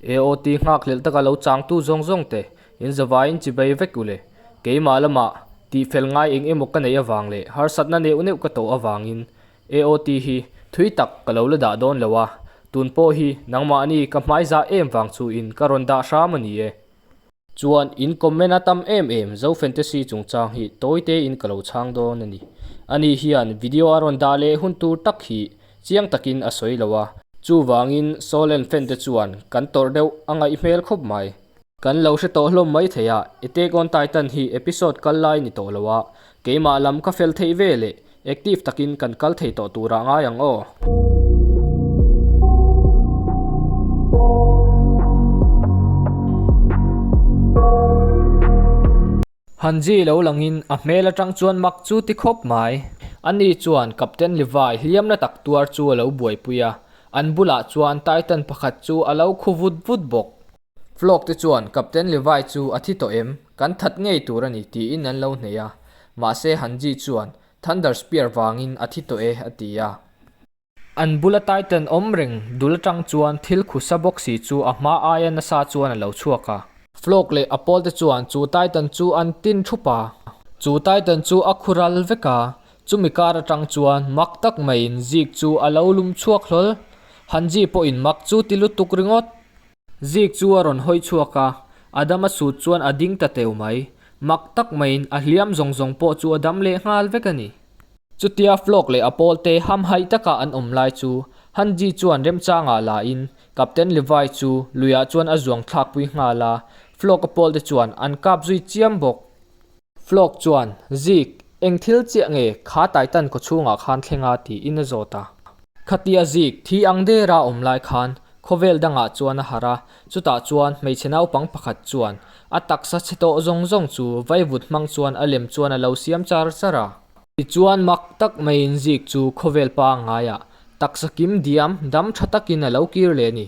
AOT nghakhlelh taka lo changtu zawng zawng te in zavaiin chibai vek u le. Keimah lamah tihfel ngai eng emaw ka neih avang leh harsatna neuh neuh ka tawh avangin AOT hi thui tak ka lo la dah dawn lo a, tun pawh hi nangmahni ka hmai zah em vang chuin ka rawn dah hram a ni e. Chuan in comment a tam em em, Zo Fantasy chungchang hi tawi te in ka lo chhang dawn a ni. Ani hian video a rawn dah leh hun tur tak hi chiang takin a sawi lo a, chuvangin Solen fan te chuan kan tawrh deuh a ngaih hmel khawp mai. Kan lo hre tawh hlawm mai thei a, Attack on Titan hi episode kal lai ni tawh lo a, keimah lam ka fel theih veleh Active takin kan kal thei tawh turah ngai ang aw. Han zii lo langin a hmel atang chuan mak chu ti khawp mai. Ani chuan Captain Levi hliamna tak tuar chu a lo buaipui a, an bulah chuan Titan pakhat chu a lo khu vut vut bawk. Flock te chuan, Captain Levi chu a thi tawh em? Kan that ngei tur a ni, tiin an lo hneih a. Mahse, han Jeet chuan, Thunder Spear vangin a thi tawh e, a ti a. An bula Titan awm reng dul atang chuan thil khu sa bawk si chu a hma aia nasa chuan a lo chhuak a. Flock leh a pawl te chuan chu Titan chu an tin thup a. Chu Titan chu a khural vek a. Chumi kar atang chuan mak tak maiin Jeek chu a lo lum chhuak hlawl. Han Jeet pawhin mak chu ti lutuk ringawt. Zik chu a rawn hawi chhuak a, a dam a sut chuan a ding ta teu mai. Mak tak maiin a hliam zawng zawng pawh chu a dam leh nghal vek a ni. Chutia Flok leh a pawlte hamhaih taka an awm lai chu Hanji chuan remchangah lahin Captain Levi chu luiah chuan a zuang thlakpui nghal a, Flok a pawlte chuan an kap zui chiam bawk. Flok chuan, Zik, eng thil chiah nge kha Titan kawchhungah khan thlenga tiin a zawt a. Khatia Zik thi ang dera awm lai khan khawvel dangah chuan a harh a, chutah chuan hmeichhe naupang pakhat chuan a taksa chhe tawh zawng zawng chu vai vut hmang chuan a lem chuan a lo siam char char a. Tichuan mak tak maiin Zik chu khawvel pangngai ah taksa kim diam dam tha takin a lo kir leh a ni.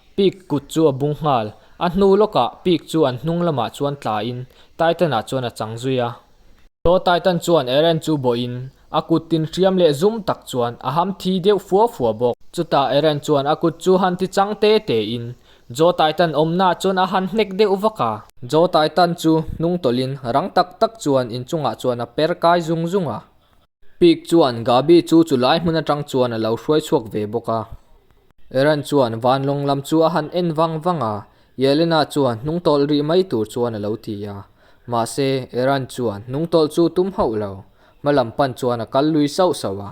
Pik kut chu a bung nghal. A hnu lawkah Pik chu an hnung lamah chuan tla in Titan-ah chuan a chang zui a. Saw Titan chuan Eren chu bawih in a kut tin hriam leh zum tak chuan a ham thi deuh fua fua bawk. Chutah Eren chuan a kut chu han ti chang te te in Jaw Titan awmnaah chuan a han hnek deuh vak a. Jaw Titan chu hnung tawlh in rang tak tak chuan inchungah chuan a per kai zung zung a. Pik chuan Gabi chu chu lai hmun atang chuan a lo hruai chhuak ve bawk a. Eren chuan vanlawng lam chu a han en vang vang a, Yelena chuan hnung tawlh rih mai tur chuan a lo ti a. Mahse, Eren chuan hnung tawlh chu tum hauh lo, hma lam pan chuan a kal lui sauh sauh a.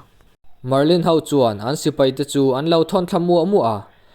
Marlin ho chuan an sipai te chu an lo thawnthla muah muah a,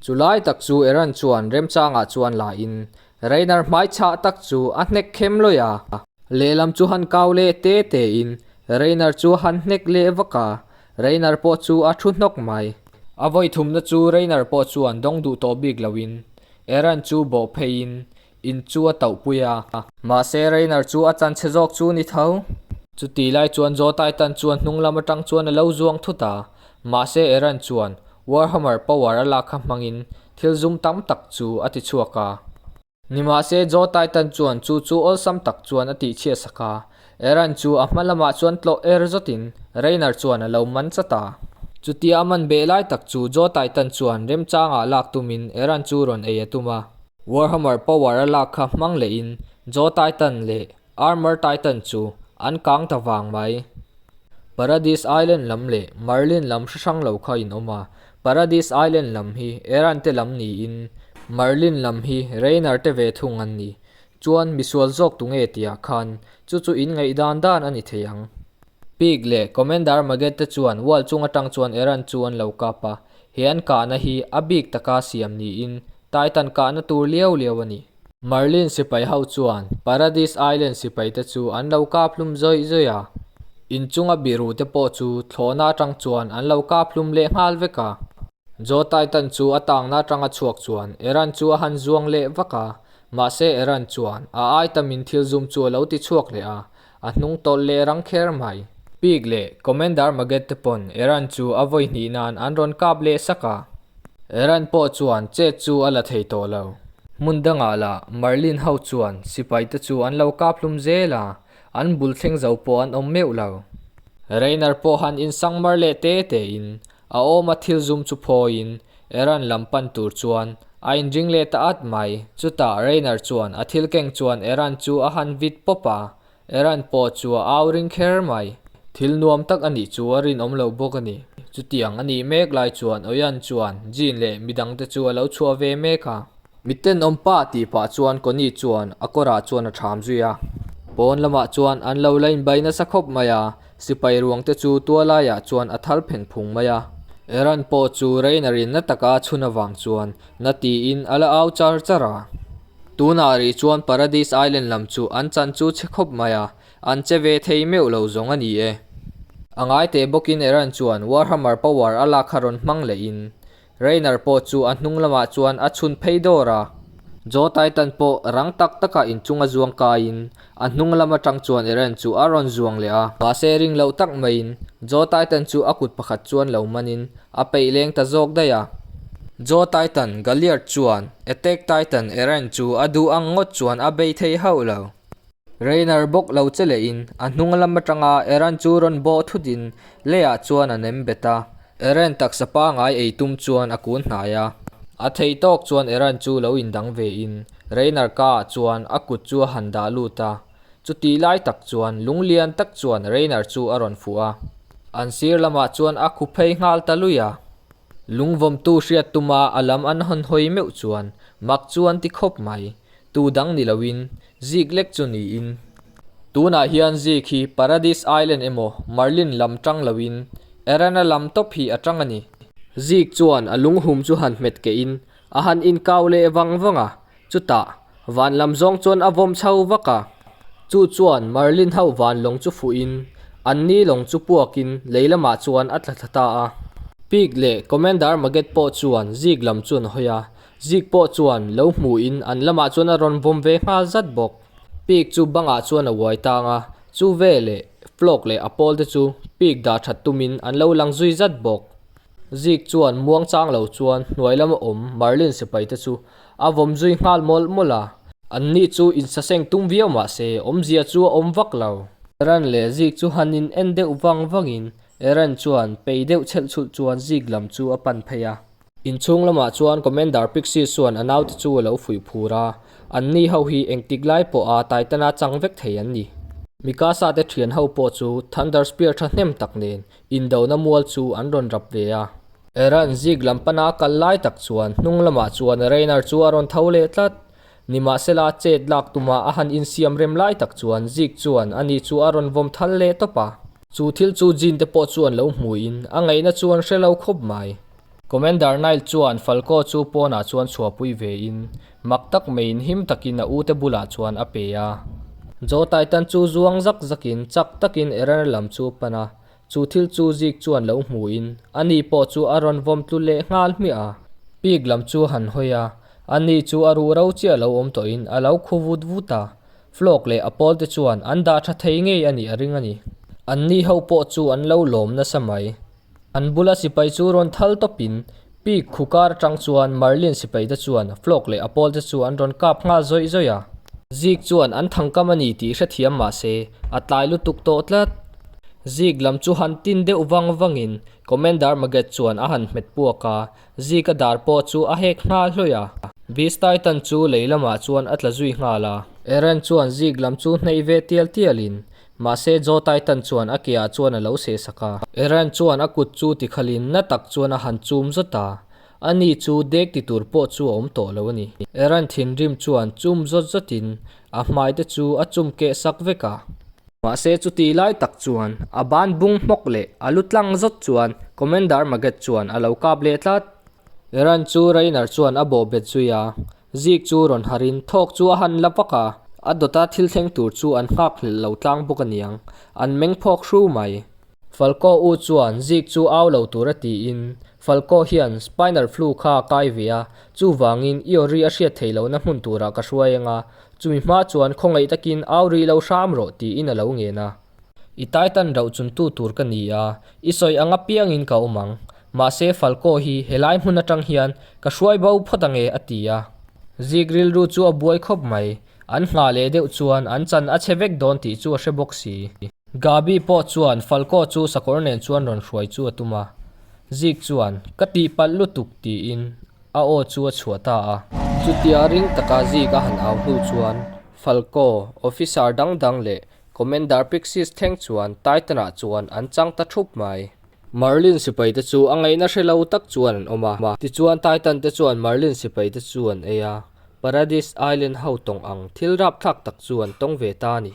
Chu lai tak chu Aaron chuan remchangah chuan la in Reiner hmaichhah tak chu a hnek khem lawih a. Lehlam chu han kau leh te te in Reiner chu han hnek leh vak a, Reiner pawh chu a thu hnawk mai. A vawi thumna chu Reiner pawh chuan dawng duh tawh bik lo in Aaron chu bawh phei in In chu a tauh pui a. Mahse, Rainer chu a chanchhe zawk chu ni tho. Chuti lai chuan Joe Titan chuan hnung lam atang chuan a lo zuang thut a. Mahse, Eren chuan Warhammer power a lak kha hmangin thil zum tam tak chu a ti chhuak a. Nimahse, Joe Titan chuan chu chu awlsam tak chuan a tihchhiahsak a. Aaron chu a hma lamah chuan tlawh er zawtin Reiner chuan a lo man chat a. Chutia a man beh lai tak chu Joe Titan chuan remchangah lak tumin Aaron chu rawn ei a tum a. Warhammer power a lak kha hmang lehin Joe Titan leh Armor Titan chu an kang ta vang mai. Paradis Island lam leh Marlin lam hre hrang lo kha inawm a, Paradis Island lam hi Aaron te lam niin Marlin lam hi Reiner te ve thung an ni. Chuan misual zawk tu nge tia khan chu chu in ngaih dan dan a ni thei ang. Pig leh Commander Magged te chuan wall chung atang chuan Eran chu an lo kap a, he an kahna hi a bik taka siam niin Titan kahna tur liau liau a ni. Marlin sipai ho chuan Paradise Island sipai te chu an lo kap hlum zawih zawih a, inchunga biru te pawh chu thlawhna atang chuan an lo kap hlum leh nghal vek a. Jaw Titan chu a tangna atanga chhuak chuan Eran chu a han zuang leh vak a, Mahse Eran chuan a ai tamin thil zum chu a lo ti chhuak leh a, a hnung tawlh leh rang kher mai. Pig leh Commander Maget te pawn Eran chu a vawi hnih nan an rawn kap leh sak a. Eran pawh chuan chet chu a la thei tawh lo. Hmun dangah lah Marlin ho chuan sipai te chu an lo kap hlum zel a, an bul thleng zo pawh an awm meuh lo. Reiner pawh han insang mar leh te te in A awma thil zum chu phawiin Eran lam pan tur chuan a inring let a at mai. Chutah Reiner chuan a thil keng chuan Eran chu a han vit pawp a, Eran pawh chu a au ring kher mai. Thil nuam tak a nih chu a rinawm lo bawk a ni. Chutiang a nih mek lai chuan Oyan chuan Jin leh mi dangte chu a lo chhuah ve mek a. Mi ten awm pa tih pah chuan Connie chuan a kawrah chuan a ṭham zui a. Pawn lamah chuan an lo la inbai nasa khawp mai a. Sipai ruangte chu tualaiah chuan a thar pheng phung mai a, Eran pawh chu Reina rinna taka a chhun avang chuan na tiin a la au char char a. Tunah rih chuan Paradise Island lam chu an chan chu chhe khawp mai a, an che ve thei meuh lo zawng a ni e. A ngaiteh bawkin Eran chuan Warhammer power a lak kha rawn hmang lehin Rainer pawh chu a hnung lamah chuan a chhun phei dawr a. Joe Titan pawh rang tak taka inchung a zuang kaiin a hnung lam atang chuan Eren chu a rawn zuang leh a. Mahse, ring loh tak maiin Joe Titan chu a kut pakhat chuan lo manin a peih leng ta zawk daih a. Joe Titan, Galliard chuan Attack Titan Eren chu a duh ang ngawt chuan a bei thei hauh lo. Reiner bawk lo che lehin a hnung lam atanga Eren chu rawn baw thut in Leia chuan a nem bet a. Eren taksa pangai ei tum chuan a kun hnai a. A thei tawk chuan Eren chu lo in dang ve in Reiner ka ah chuan a kut chu a han dah lut a. Chu tih lai tak chuan lung lian tak chuan Reiner chu a rawn fuh a. An sir lam ah chuan a khu phei nghal ta lui a. Lungvawmtu hriat tuma a lam an hawn hawi meuh chuan mak chu an ti khawp mai. Tu dang ni loin, Zig lek chu niin. Tunah hian Zig hi Paradise Island emaw Marlin lam ṭang loin, Erana lam tawp hi a ṭang a ni. Zig chuan a lunghum chu han hmet keh in, a han inkau leh vang vang a. Chutah, van lam zawng chuan a vawm chho vak a. Chu chuan Marlin ho van lawng chu fuh in, an ni lawng chu puak in lei lamah chuan a tla thla ta a. Pig leh Commander Maget pawh chuan Zig lam chuan a hawi a, Zik pawh chuan lo hmuhin an lamah chuan a rawn vawm ve nghal zat bawk. Pik chu bangah chuan a uai tang a, chu vel leh flawk leh a pawl te chu pik dah that tumin an lo lang zui zat bawk. Zik chuan muang chang lo chuan hnuai lam a awm Marlin sipai te chu a vawm zui nghal mawlh mawlh a. An ni chu insaseng tum viau mah se, awmzia chu a awm vak lo. Eren leh Zik chu han in en deuh vang vangin Eren chuan pei deuh chhelh chulh chuan Zik lam chu a pan phei a. Inchhung lamah chuan Commander Pixie chuan a naute chu a lo fuih phur a, an ni ho hi engtik lai pawh a Titan-a chang vek thei an ni. Mikasa-te thian ho pawh chu Thunder Spear tha hnem tak nen indona mual chu an rawn rap ve a. Eren Zeke lam pana a kal lai tak chuan hnung lamah chuan Reiner chu a rawn tho leh tlat. Nimahsela, chet lak tumah a han insiam rem lai tak chuan Zeke chuan a ni chu a rawn vawm thal leh tawp a. Chu thil chu Jean te pawh chuan lo hmuin a ngaihna chuan hre lo khawp mai. Commander Nile chuan Falco chu pawnah chuan chhuahpui ve in mak tak mai in him tak in a ute bulah chuan a pe a. Joe Titan chu zuang zak zak in chak tak in Errane lam chu pan a, chu thil chu Zeke chuan lo hmuin a ni pawh chu a rawn vawm tlu leh nghal hmiah a. Pig lam chu han hawi a, a ni chu a ruh ro chiah lo awm tawh in a lo khu vut vut a. Flawk leh a pawlte chuan an dah tha thei ngei a nih a ring a ni. An ni ho pawh chu an lo lawm nasa mai. An bula sipai chu rawn thal tawp in Pig khu kar atang chuan Marlin sipai te chuan Flawk leh a pawlte chu an rawn kap nghal zawih zawih a. Zig chuan an thangkam a ni tih hrethiam mah se, a tlai lutuk tawh tlat. Zig lam chu han tin deuh vang vang in Commander Maget chuan a han hmet puak a. Zika dar pawh chu a hek nghal hlawih a, Vistai tan chu lei lamah chuan a tla zui nghal a. Eren chuan Zik lam chu hneih ve tial tial in, mahse Jotai tan chuan a ke ah chuan a lo sehsak a. Eren chuan a kut chu tikhal in na tak chuan a han chum zawt a, a ni chu dek ti tur pawh chu a awm tawh lo a ni. Eren thinrim chuan chum zawt zawt in a hmai te chu a chum keh sak vek a. Mahse chuti lai tak chuan a ban bung hmawk leh a lu tlang zawt chuan Commander Maget chuan a lo kap leh tlat. Iran chu Reiner chuan a bawh bet zui a, Zeke chu rawn harh in thawk chu a han la vak a, a dawt a thil thleng tur chu an nghak hrilh lo tlang bawk a niang, an meng phawk hru mai. Falkaw U chuan zik chu au lo tur a tiin, Falkaw hian spinal flu kha a kai ve a, chuvangin i aw ri a hriat theih lohna hmun turah ka hruai eng a, chumi hma chuan khawngaih takin au ri lo hram rawh tiin a lo ngen a. I taitan rauh chuntu tur ka ni a, i sawi ang apiangin ka awm ang, mahse Falkaw hi helai hmun atang hian ka hruai bo phawt ang e a ti a. Zik rilru chu a buai khawp mai, an nghah leh deuh chuan an chan a che vek dawn tih chu a hre bawk si. Gabi pawh chuan Falco chu sakawr nen chuan rawn hruai chu a tum a. Zeke chuan, Ka tihpalh lutuk, tiin a aw chu a chhuah ta a. Chutia ring taka Zeke a han au hnu chuan Falco, Officer dang dang leh Commander Pixis thleng chuan Titan-ah chuan an chang ta thup mai. Marlin sipai te chu a ngaihna hre lo tak chuan an awm a. Tichuan Titan te chuan Marlin sipai te chu an ei a, Paradis Island ho tawng ang thil rapthlak tak chu an tawng ve ta a ni.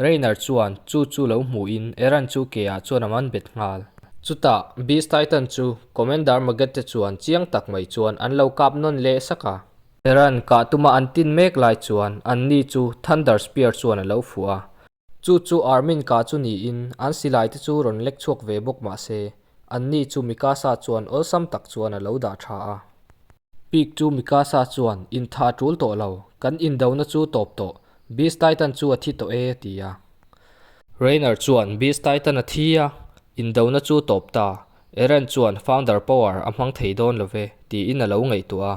Reiner chuan chu chu lo hmuhin Eren chu keah chuan a man bet nghal. Chutah Beast Titan chu Commander Maggett te chuan chiang tak mai chuan an lo kap nawn leh sak a. Eren kah tuma an tin mek lai chuan an ni chu Thunder Spear chuan a lo fuh a. Chu chu Armin kah chu niin an silai te chu rawn lek chhuak ve bawk mahse, an ni chu Mikasa chuan awlsam tak chuan a lo dah tha a. Pik chu Mikasa chuan, In tha a tul tawh lo, kan indona chu tawp tawh, Beast Titan chu a thi tawh e, ti a. Reiner chuan, Beast Titan a thi a, indona chu tawp ta, Eren chuan Founder Power a hmang thei dawn lo ve, tiin a lo ngaihtuah a.